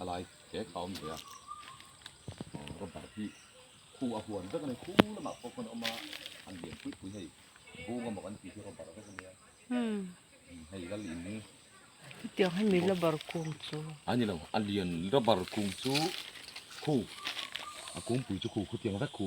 a lai hle kha a awm ve a, aw rubber hi khu a huan vek a ni, khu lamah pawh khawn a awm a, an lian pui pui hei bung amaw kan tih hi rubber vek a ni a, umm hei lal in hi hetiang hi mi rubber kung chu a ni lo, a lian rubber kung chu khu a kawngpui chu khu khutiang vek khu.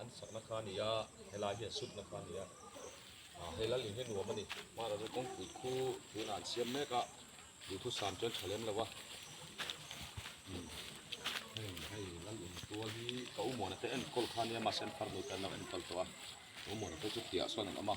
An sakna kha a ni a, helai hian sutna kha a ni a. A, he lal in hi nuam a ni. Mahra chu kawngpui khu tunah an siam mek a, duhthusam chuan tha lem lo a. Umm, heng, hei lal in tual hi ka u muana te enkawl kha a nia, mahse an phar nuih dan lo a, ka en kal tawh a. Ka u muana te chu piahah sawn an awm a.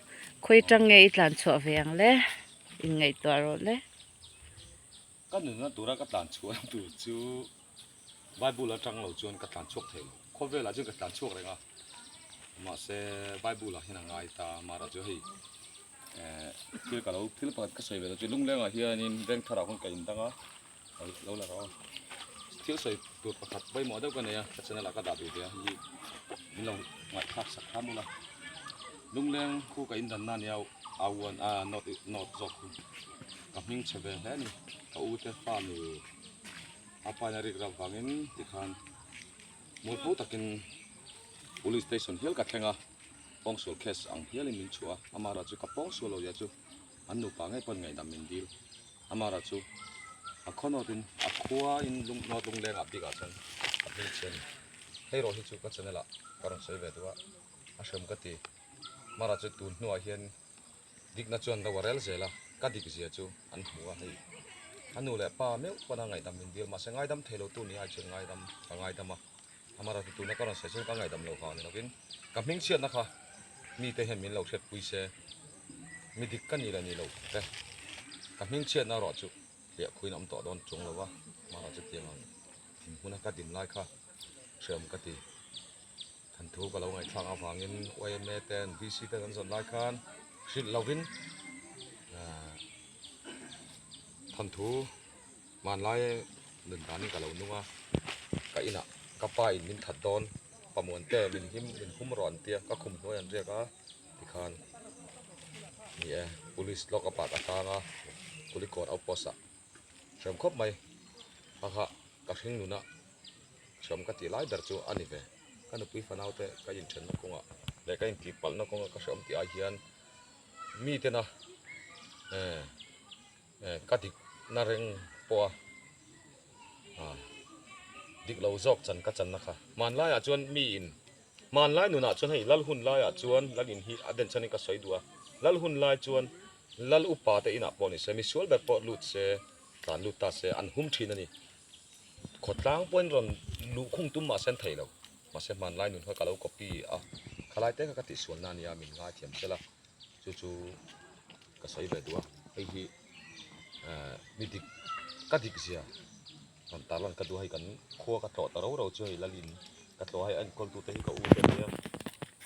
Khawi tang nge i tlan chhuah ve ang le? In ngaihtuah rawh le. Ka nunna tura ka tlan chhuah tur chu Bible atang lo chuan ka tlan chhuak thei lo. Khawvelah chuan ka tlan chhuak reng a, mahse Bible ah hian a ngai ta a, mahra chu hei ehh thil ka lo, thil pakhat ka sawi ve lo chu, lunglengah hianin vengtharah hun ka indang a. lo la rawh thil sawi tur pakhat pawimawh deuh ka nei a ka channel ah ka dah ve ve a ni min lo ngaihthlak sak kha mul a lungleng khu ka in dan na nia a uan a not not zawk khu ka hming chhe ve hle ni ka u te fa mi a paina rik rap vangin ti khan mul phu takin police station hial ka thlenga pawngsual case ang hialin min chhuah a amah erawh chu ka pawngsual lo zia chu An nupa ngei pawhin ngaihdam min dil. Amara chu a khawnawitin a khuain lunghnawt lunglengah bikah chuan a hming chhian a ni. Hei rawh hi chu ka channel ah ka rawn sawi ve duh a, a hrem ka ti. Mara chu tun hnuah hian dikna chuan lo a rel zel a, ka dik zia chu an hmu a hei. A nu leh pa meuh pana ngaihdam min dil, mahse ngaidam thei lotu ni ai chuan ngaidam ka ngaidam a. Amara ti tuna ka rawn saih chuan ka ngaidam lo vang ni loin ka hming chhiatna kha mite hian min lo hriatpui se mi dik ka ni la ni lo te ka hming chhiatna erawh chu hliah khuin awm tawh dawn chhung lo a Amara chu tiang ang in hmuna ka dim lai kha hreawm ka ti than thu ka lo ngaihthlak avangin yma ten VC ten an zawn lai khan hrilh lovin than thu Hmanlai nun danin ka lo nung a, ka inah ka pa in min that dawn, Pamuante min him min hum rawh an tia, ka khum hnuai an riak a, tikhan ni e, Police lock up ah ka tlang a, Kulikawr outpost ah hrem khawp mai, hakha ka hring nuna hrem ka tih lai ber chu a ni ve, ka nupui fanaute ka inthenna kawngah leh ka intih palhna kawngah ka hrem tih ai hian mitena e. Eh ka dik na reng pawh a ah dik lo zawk chan ka channa kha hmanlai ah chuan mi in hmanlai nun ah chuan hei lal hun lai ah chuan lal in hi a den chhan in ka sawi duh a lal hun lai chuan lal upa te in ah pawh ni se mi sual ber pawh lut se tlan lut ta se an hum thin a ni khaw tlang pawhin rawn luh khum tum mah se an thei lo mahse hmanlai nun kha ka lo copy a khalai te kha ka tihsual na a nia min ngaithiam tel a chu chu Ka sawi ve duh a, hei hi ni dik ka dik zia han ta lan ka duh a, hei kan khua ka tlawh ta ro ro chu hei Lalin ka tlawh a, hei a enkawl tute hi ka u te a nia,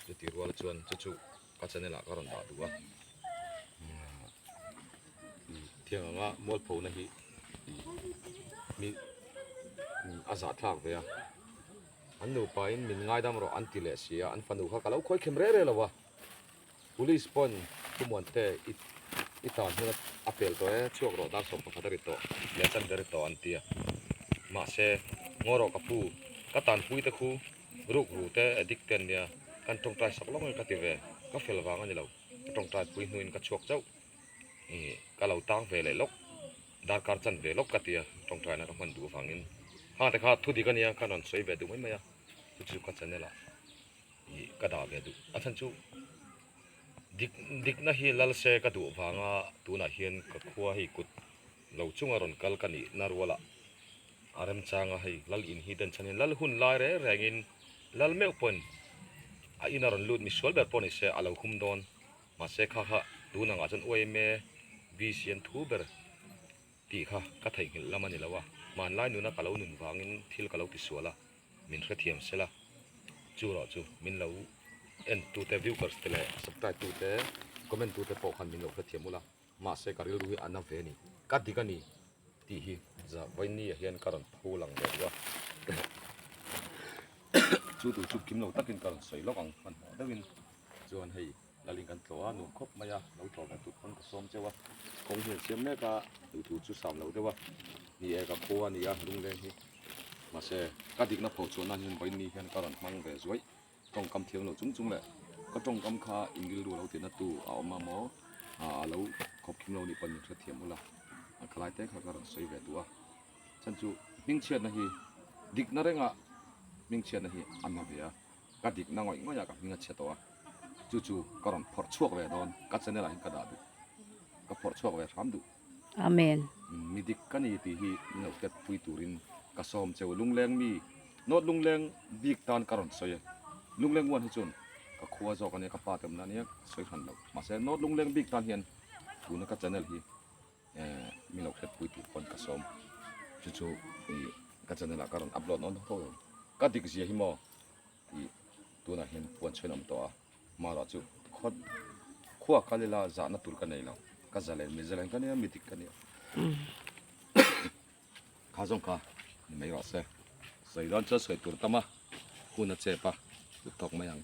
chu ti rual chuan chu chu ka channel ah ka rawn dah duh a, thiang anga mualphona hi a zah thlak ve a, an nupa in min ngaidam rawh an ti leh si a, an fanu kha ka lo khawikhem reh reh lo a. Police pawn khumuan te i tan hun a pel tawh e, chhuak rawh dar sawm pakhat a ri tawh leh a chan ve ri tawh an ti a. Mahse, Ngaw rawh ka pu, ka tanpui te khu, rukru te edik te an nia, kan tawngtai sak lawngin ka ti ve, ka fel vang a ni lo, ka tawngtai pui hnuin ka chhuak chauh i ka lo tang ve leh lawk, darkar chan ve lawk ka ti a, tawngtai na ka hman duh avangin hangte kha thudik a nia, ka rawn sawi ve duh mai mai a, chu chu ka channel ah. Ih ka dah ve duh. A then chu, Dik, Dikna hi lal se ka duh vanga tunah hian ka khua hei kut lo chunga rawn kal ka nih na ruala a remchang a, hei lal in hi den chhan hian lal hun lai reng rengin lal meuh pawhin a ina rawn lut misual ber pawh nise a lo hum dawn. Mahse kha kha tunangah chuan uai em e, busy an thu ber tih kha ka theihnghilh lam a ni lo a, hmanlai nuna ka lo nun vangin thil ka lo ti sual a. Min hrethiam sela, chuerawh chu min lo en tute viewers te leh subscribe tute comment tute pawh khan min lo hrethiam ula, mahse ka rilru hi a na ve ni, ka dik a ni tih hi Zavaini-a hian ka rawn pho lang ve duh a, chu tur chu kim lo takin ka rawn sawi lawk ang hmanhmawh deuhin chuan hei. Laling kan tlawh a, nuam khawp mai a, lo tlawh ve tut pawn ka sawm cheu a, kawng hian siam mek a, tui tur chu sam lo deuh a ni e, ka khaw a ni a lungleng hi, mahse ka dikna pho chuan nan hian vawi ni hian ka rawn hmang ve zuaih, tawngkam thiang lo chung chung leh ka tawngkam kha Ingrildu lo tihna tu a awm a maw a a lo khawp khim lo ni pawn min hrethiam hul a, a khalai te kha ka rawn sawi ve duh a, chan chu hmingchhiatna hi dikna rengah hmingchhiatna hi a hma ve a. ka dik na ngawih ngawih a ka hming a chhe tawh a chu chu ka rawn phawrh chhuak ve dawn ka channel ah in ka dah duh ka phawrh chhuak ve hram duh amen mi dik ka ni tih hi min lo tet pui tur in ka sawm cheu lungleng mi not lungleng bik tan ka rawn sawi a lungleng one hi chuan ka khua zawk a nia ka pa te awmna nia sawi hran lo mahse not lungleng bik tan hian tuna ka channel hi min lo hriat pui tih pawn ka sawm chu chu ih ka channel ah ka rawn upload nawn tho em ka dik zia hi maw ih tunah hian puan chhawiin a awm tawh a mahruah chu khaw khuaa kal ila zahna tur ka nei lo ka za lem miza lem ka nia mi dik ka nia kha zawng kha ni mai ruah se sawi dawn chuan sawi tur tam a huna chep a hlu thawk mai ang.